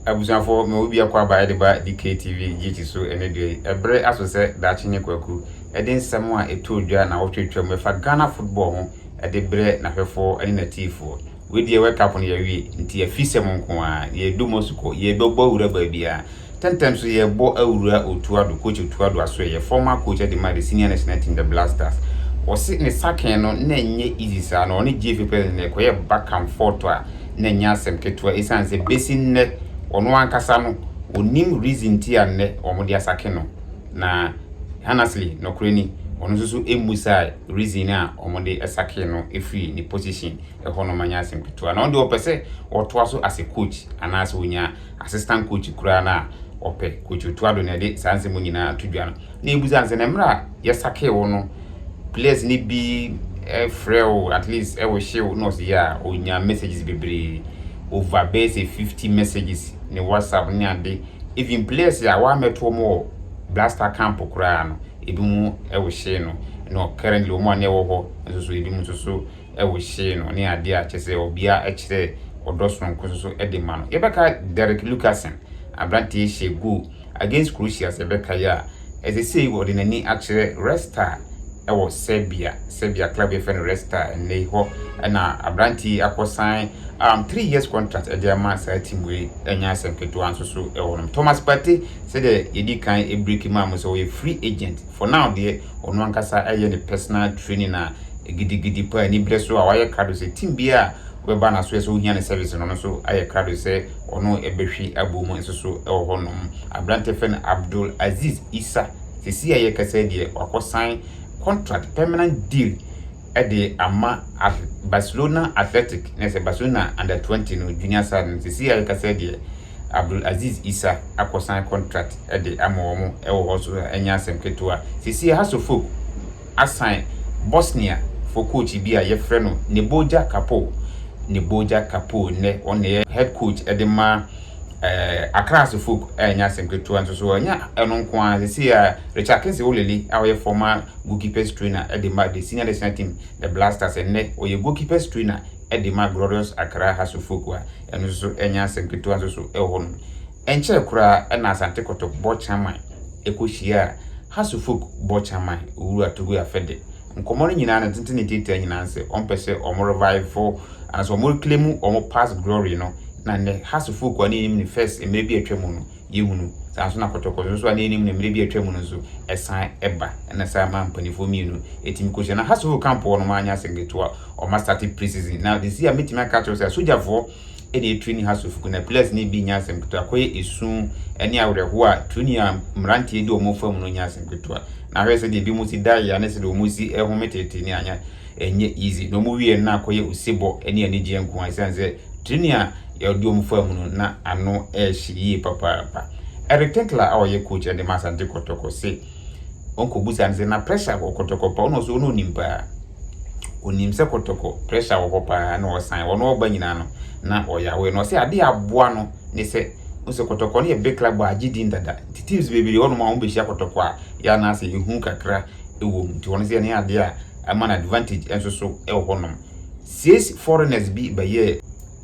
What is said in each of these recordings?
Abusuafo, mewɔ biako aba ɛde ba DKTV GT so ɛnɛ dua yi. Ɛbere aso sɛ Daakye ne Kwaku ɛde nsɛm a ɛtɔɔ dwa na wɔtwe twam ɛfa Ghana football ho ɛde brɛ n'ahwɛfoɔ ɛne n'atiifoɔ. Wei deɛ World Cup no yɛawie, nti afisɛm nko ara, yɛredu Moscow, yɛrebɛbɔ awura baabiara. Tɛntɛm so yɛbɔ awura Otu Addo, Coach Otu Addo Asoɛ yɛ former coach ɛde ma the senior national team the Black Stars. Wɔse ne sakee no na ɛnyɛ easy saa na ɔne GFA president no ɛkɔyɛ back and forth a na ɛnyɛ asɛm ketewa esiane sɛ besi nnɛ ɔno ankasa no ɔnim reason nti a nnɛ wɔde asake no na honestly nɔkorɛ ni ɔno nso so mmusae reason a wɔde sakee no firi ne position hɔ no manyɛ asɛm ketewa na ɔno deɛ ɔpɛ sɛ ɔtoa so as a coach anaasɛ ɔnya assistant coach koraa no a, ɔpɛ Coach Otuado na ɛde saa nsɛm nyinaa ato dwa no. Na ebusa sɛ, na mmerɛ a yɛsakee wo no, players no bi frɛ wo at least ɛwɔ hye wo? Na ɔse, yeah, ɔnya messages bebree, over bɛyɛ sɛ 50 messages ne WhatsApp ne ade. Even players a wɔammɛto wɔn wɔ Black Star camp koraa no, ebinom wɔ hye no. Na currently wɔn a na ɛwɔ hɔ nso so, ebinom nso so, wɔ hyee no ne adeɛ a kyerɛ sɛ ɔbea kyerɛ ɔdɔ sononko nso so de ma no. Yɛbɛka Derek Lucassen, aberanteɛ hyɛɛ goal against Croatia sɛ ɛbɛka yi a, ɛsɛ sei ɔde n'ani akyerɛ Red Star wɔ Serbia, Serbia club yɛfrɛ no Red Star ɛnnɛ yi hɔ na aberanteɛ yi akɔ sign um, three years contract ɛde ama saa team wei ɛnyɛ asɛm ketewa nso so ɛwɔ nom. Thomas Partey sɛdeɛ yɛdi kan ɛbreki maa mo sɛ ɔyɛ free agent For now deɛ, ɔno ankasa ɛyɛ ne personal training a gidigidi paa, anibrɛ so a wayɛ krado sɛ team biara a wobɛba na so ɛsɛ ohia ne service no, ɔno nso ayɛ krado sɛ ɔno ɛbɛhwi abɔ mu nso so ɛwɔ hɔ nom. Aberanteɛ fɛ no Abdul Aziz Issa, sesei a yɛkasa yi deɛ wakɔ sign contract permanent deal ɛde ama Barcelona Athletic, na ɛsɛ Barcelona under 20 no junior side no, sesei a yɛkasa yi deɛ, Abdul Aziz Isa akɔsan contract de ama wɔn wɔ hɔ so a ɛnyɛ asɛm ketewa. Seesei Hasso Folk asan Bosnia foɔ coach bi a yɛfrɛ no Neboja Kapo, Neboja Kapo nnɛ ɔno na ɛyɛ head coach de ma eh, Accra Hasso Folk a ɛnyɛ asɛm ketewa nso so ɛnyɛ ɛno nko ara seesei a Richard Kingsley Olele a ɔyɛ former goalkeepers trainer de ma the senior national team the Blasters nnɛ ɔyɛ goalkeepers trainer de ma Glorious Accra Hasso Folk a Ɛno nso so ɛnyɛ asɛm ketewa nso so wɔ hɔ nom. Ɛnkyɛɛ koraa na Asante Kɔtɔ bɔ Chaman kɔ hyiaa Hasu Fuk bɔ Chaman, Owuru Atugu Afɛde. Nkɔmmɔ no nyinaa no tenten ne tiatia nyinaa no sɛ ɔmpɛ sɛ wɔn revive anaasɛ wɔn reclaim wɔn past glory no na nnɛ Hasu Fuk a ne yɛnim no first mmerɛ bi a atwa mu no, yɛhunu. Saa ara nso na kɔtɔkɔtɔ nso a na yɛnim no mmerɛ bi a atwam no nso, ɛsan ba. Ɛna saa maa mpaninfoɔ mmienu tumi kɔhyia. Na Hassel Okanpoɔ no wanyɛ asɛm ketewa. Wɔma starte pre-season. Na seesei a mɛtumi aka akyerɛ wo sɛ asogyafoɔ na ɛtrini Hassel Fuku. Na players no bi nyɛ asɛm ketewa. Akɔyɛ esu ne awerɛhoɔ a trini a mmeranteɛ di wɔn fa mu no nyɛ asɛm ketewa. Na hwɛ sɛdeɛ binom si da yea ne sɛdeɛ wɔn si home teetee ne anyɛ ɛnyɛ easy. Na wɔn wieɛ no na akɔyɛ osebɔ ne anigyeɛ nko ara esiane sɛ Trenee a ɔde wɔn faa mu no, na ano hyɛ yie papaapa. Eric Tinkler a ɔyɛ coach de ma Asante Kɔtɔkɔ se wɔn kɔ busa no sɛ na pressure wɔ Kɔtɔkɔ pa ɔno ɔsɛ ɔno onim paa. Onim sɛ Kɔtɔkɔ pressure wɔ hɔ paa na ɔsan wɔn ɔba nyinaa no na ɔyɛ aware na ɔsɛ adeɛ aboa no ne sɛ ɔsɛ Kɔtɔkɔ no yɛ big club a agye din dada nti teams bebree hɔ nom a wɔn bɛhyia Kɔtɔkɔ a yɛ anaasɛ ehu kakra wɔ mu nti wɔn sɛ ɛne adeɛ a ɛma no advantage nso so wɔ hɔ nom. Sees foreigners bi bɛyɛɛ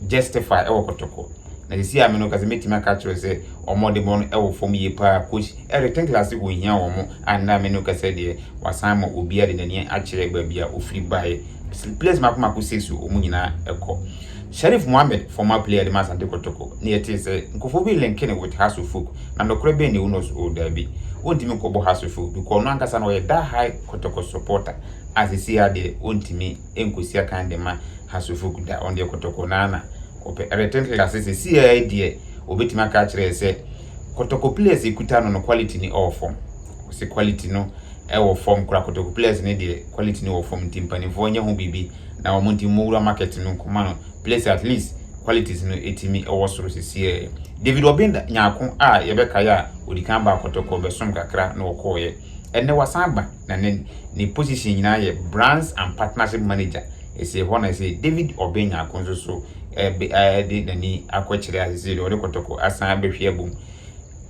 justify ɛwɔ kɔtɔkɔ na sisi a me no kasa mɛtumi aka kyerɛ sɛ ɔmo ɔde bɔ no ɛwɔ fam yie paa coach ɛde ten class wɔ hia wɔ mo a nna me no kasa deɛ wasan ma obia de nani akyerɛ baabi a ofiri bae players mako mako sees o ɔmo nyinaa ɛkɔ Sharif Mohammed former player de ma asante kɔtɔkɔ ne yɛtee sɛ nkofo bi linke ne with Hasso folk na nɔkorɛ bɛn ne unos o daabi wontumi nkɔbɔ Hasso folk because ɔno ankasa no ɔyɛ da high kɔtɔkɔ supporter a sesei ara deɛ ɔntumi nkɔsi akan de ma Hasso Foku da, wɔn deɛ kɔtɔkɔ no ara na wɔpɛ. Eric Ten Hag ase sesei ara yi deɛ wɔbɛtumi aka akyerɛ yɛn sɛ kɔtɔkɔ players a ɛkuta no no quality no wɔ fam. Wɔse quality no wɔ fam koraa, kɔtɔkɔ players no deɛ quality no wɔ fam nti mpanimfoɔ nyɛ ho biribi na wɔn nti wɔwura market no nkɔma no players at least qualities no ɛtumi wɔ soro sesei ara yi. David Obinda nyaako a yɛbɛkae a ɔdikan baa kɔtɔkɔ bɛsom kakra na ɔkɔɔeɛ. Ɛnnɛ wasan aba na ne ne position nyinaa yɛ Brands and Partnership Manager. Ɛsei hɔ na ɛsei David Obeng Nyarko nso so ɛɛbe ɛɛde n'ani akɔkyerɛ a sesei deɛ ɔde kɔtɔkɔ asan abɛhwe abom.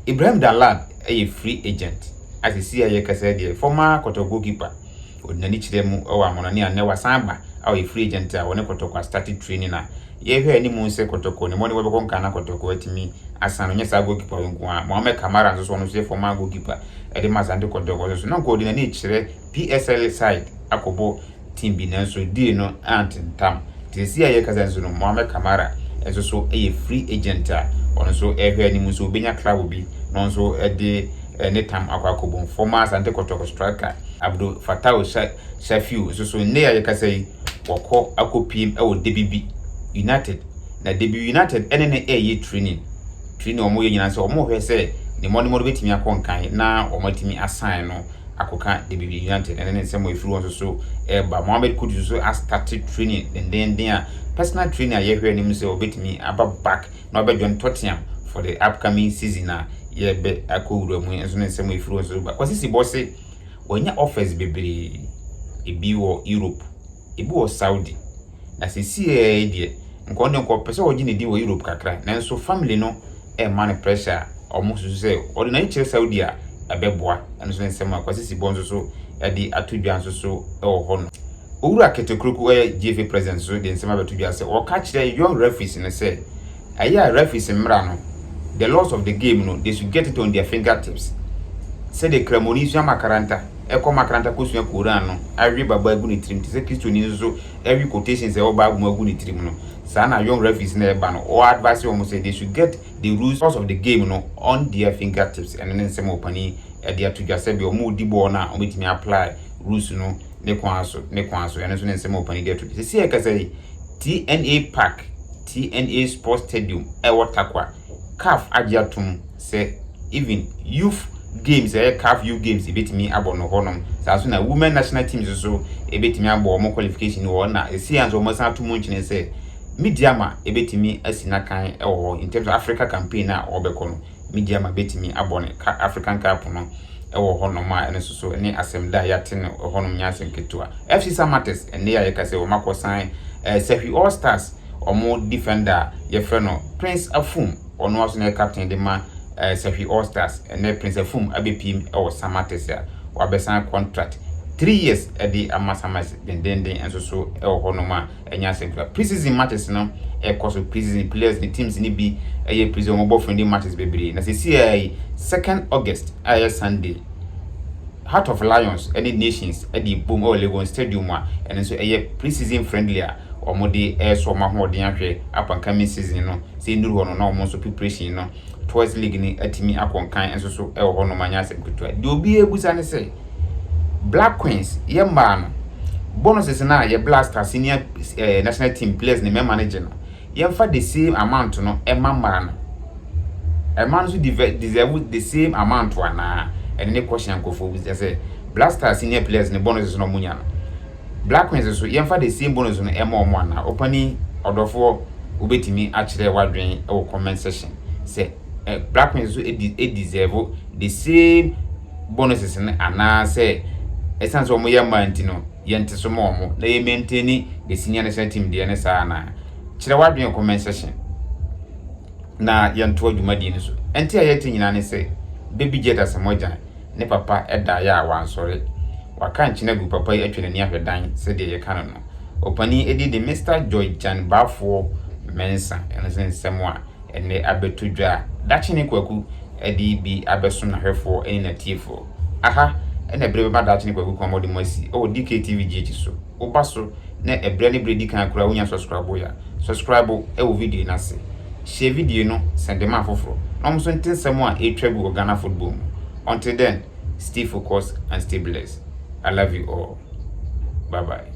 Ibrahim Dallad ɛyɛ free agent a sesei a yɛkasa yi deɛ former kɔtɔkɔ goalkeeper ɔde n'ani kyerɛ mu ɛwɔ Amonɔne a nnɛ wasan aba a ɔyɛ free agent a ɔne kɔtɔkɔ astarte training a Yɛhwɛ anim sɛ Kotoko ne Moniwa bɛkɔ nka na Kotoko atumi asan no, nyɛ saa goalkeeper yi nko ara. Mohamed Kamara nso so, ɔno nso yɛ former goalkeeper de ma Asante Kotoko nso so. Na nka ɔde n'ani rekyerɛ PSL side akɔbɔ team bi nanso deal no antentam. Nti seesei a yɛrekasa nso no, Mohamed Kamara nso so yɛ free agent a ɔno nso rehwɛ anim sɛ obenya club bi na ɔno nso de ne tam akɔ akɔbom. Former Asante Kotoko striker Abdul Fattau Sha, Shafiu nso so nnɛ a yɛkasa yi, wɔkɔ akɔpiem wɔ Debibi United. Na Debibi United ne no reyɛ training. Training a wɔyɛ nyinaa sɛ wɔrehwɛ sɛ ne mmɔdemmɔ no bɛtumi akɔ nkan na wɔatumi asan no akɔka Debibi United. Ɛne ne nsɛm a ɛfiri wɔn nso so reba. Mohammed Kudus nso astate training dendenden a personal training a yɛhwɛ anim sɛ ɔbɛtumi aba back na ɔbɛjoin Tottenham for the upcoming season a yɛbɛ akɔwura mu nso ne nsɛm a ɛfiri wɔn nso so ba. Kwasi Sibɔ se Wɔanya office bebree, ebi wɔ Europe, ebi wɔ Saudi. Na seesei ara yi deɛ, nka ɔno deɛ nka ɔpɛ sɛ ɔgye ne din wɔ Europe kakra, nanso family no rema no pressure a wɔsusu sɛ ɔde n'ani kyerɛ Saudi a, ɛbɛboa. Ɛno nso ne nsɛm a Kwasi Sibɔ nso so de ato dwa nso so wɔ hɔ no. Owura Kete Kruku a ɔyɛ GFA President nso de nsɛm abɛto dwa sɛ ɔka kyerɛ young referees no sɛ, Ɛyɛ a referees mmara no, the laws of the game no, they should get it on their finger tips. Sɛdeɛ Kramoni sua makaranta, kɔ makaranta kɔsua Koran no, awe Bible agu ne tirim, te sɛ Kristoni nso awe quotations a ɛwɔ Bible mu agu ne tirim no, saa na young referees no ɛreba no, ɔɔ advise wɔn sɛ they should get the rules of the game no on their finger tips. Ɛno ne nsɛm a ɔpanin de ato dwa sɛdeɛ wɔn a wɔdi bɔɔl no a wɔbɛtumi apply rules no ne kwan so, ne kwan so. Ɛno nso ne nsɛm a ɔpanin de ato dwa. Seesei yɛkasa yi, TNA Park. TNA Sports Stadium a ɛwɔ Tarkwa. Caf agye atom sɛ even youth games a ɛyɛ Caf Youth Games ebetumi abɔ no hɔnom. Saa nso na women national teams nso ebetumi abɔ wɔn qualification no wɔ hɔ na ɛsei nso wɔsan ato mu nkyene sɛ Midiama ebetumi asi n'akan wɔ hɔ in terms of Africa campaign a wɔbɛkɔ no. Media ma betumi abɔ no ka African Cup no wɔ hɔnom a ɛno nso so ne asɛm da a yɛate no wɔ hɔnom nyɛ asɛm ketewa. FC Samatex nnɛ yi a yɛka sɛ wɔn akɔsan eh, Sahwi All Stars wɔn defender a yɛfrɛ no Prince Afum ɔno ara nso na yɛ captain de ma eh, Sahwi All Stars ɛnɛ Prince Afum abɛpiem wɔ Samatex a wabɛsan contract three years de ama Samatex dendenden nso so wɔ hɔnom a ɛnyɛ asɛm kura. Pre-season matches no ɛkɔ so, pre-season players ne teams no bi ɛyɛ pre-season, wɔn bɔ friendly matches bebree. Na sɛsi a yi, second August a ɛyɛ Sunday, Heart of Lions ɛne Nations ɛde bom ɛwɔ Legon Stadium a ɛno nso ɛyɛ pre-season friendly a wɔn de ɛresɔ wɔn ahoɔden ahwɛ upcoming season no sɛ nduru hɔ no na wɔn nso preparation no Tours League no atumi akɔ nkan nso so wɔ hɔnom anyɛ asɛm ketewa. Deɛ obiara abusa ne sɛ, Black Queens, yɛ mmaa no, bonuses no a yɛ Blaster senior eh, national team players ne mmarima no gye no, yɛmfa the same amount no ɛma mmaa no. Mmaa no nso deserve the same amount anaa? Ɛno ne question nkurɔfoɔ bisa sɛ Blaster senior players ne bonuses no a wɔnya no, Black Queens so, yɛmfa the same bonus no ɛma wɔn anaa? Opanin ɔdɔfoɔ wobɛtumi akyerɛ w'adwen wɔ comment section sɛ Black Queens so ɛdi deserve the same bonuses no anaa sɛ ɛsiane sɛ wɔn yɛ mmaa nti no yɛnte so ma wɔn na yɛ maintain the senior national team deɛ ne saa anaa? Kyerɛ w'adwen wɔ comment section na yɛntoa dwumadie no so. Ɛnti a yɛte nyinaa ne sɛ baby jet asamoah gyan ne papa daeɛ a wansɔre. Waka nkyene agu papa yi atwa n'ani ahwɛ dan sɛdeɛ yɛka no no. Opanin edin de Mister Joy Gyan Baafoɔ Mensa. Ɛno nso ne nsɛm a ɛnnɛ abɛto dwa a Dakyene Kwaku de bi abɛso n'ahwɛfoɔ ne n'atiefoɔ. Aha na ɛberɛ bɛma Dakyene Kwaku kɔn ma ɔde mo asi wɔ DKTV GH so. wo ba so na ɛbrɛ ne berɛ di kan koraa wonya sɔskrabo ya sɔskrabo wɔ video no ase share video no sɛnde ma afoforɔ na wɔn nso nte nsɛm a ɛretwa gu wɔ Ghana football mu until then stay focused and stay blessed I love you all bye bye.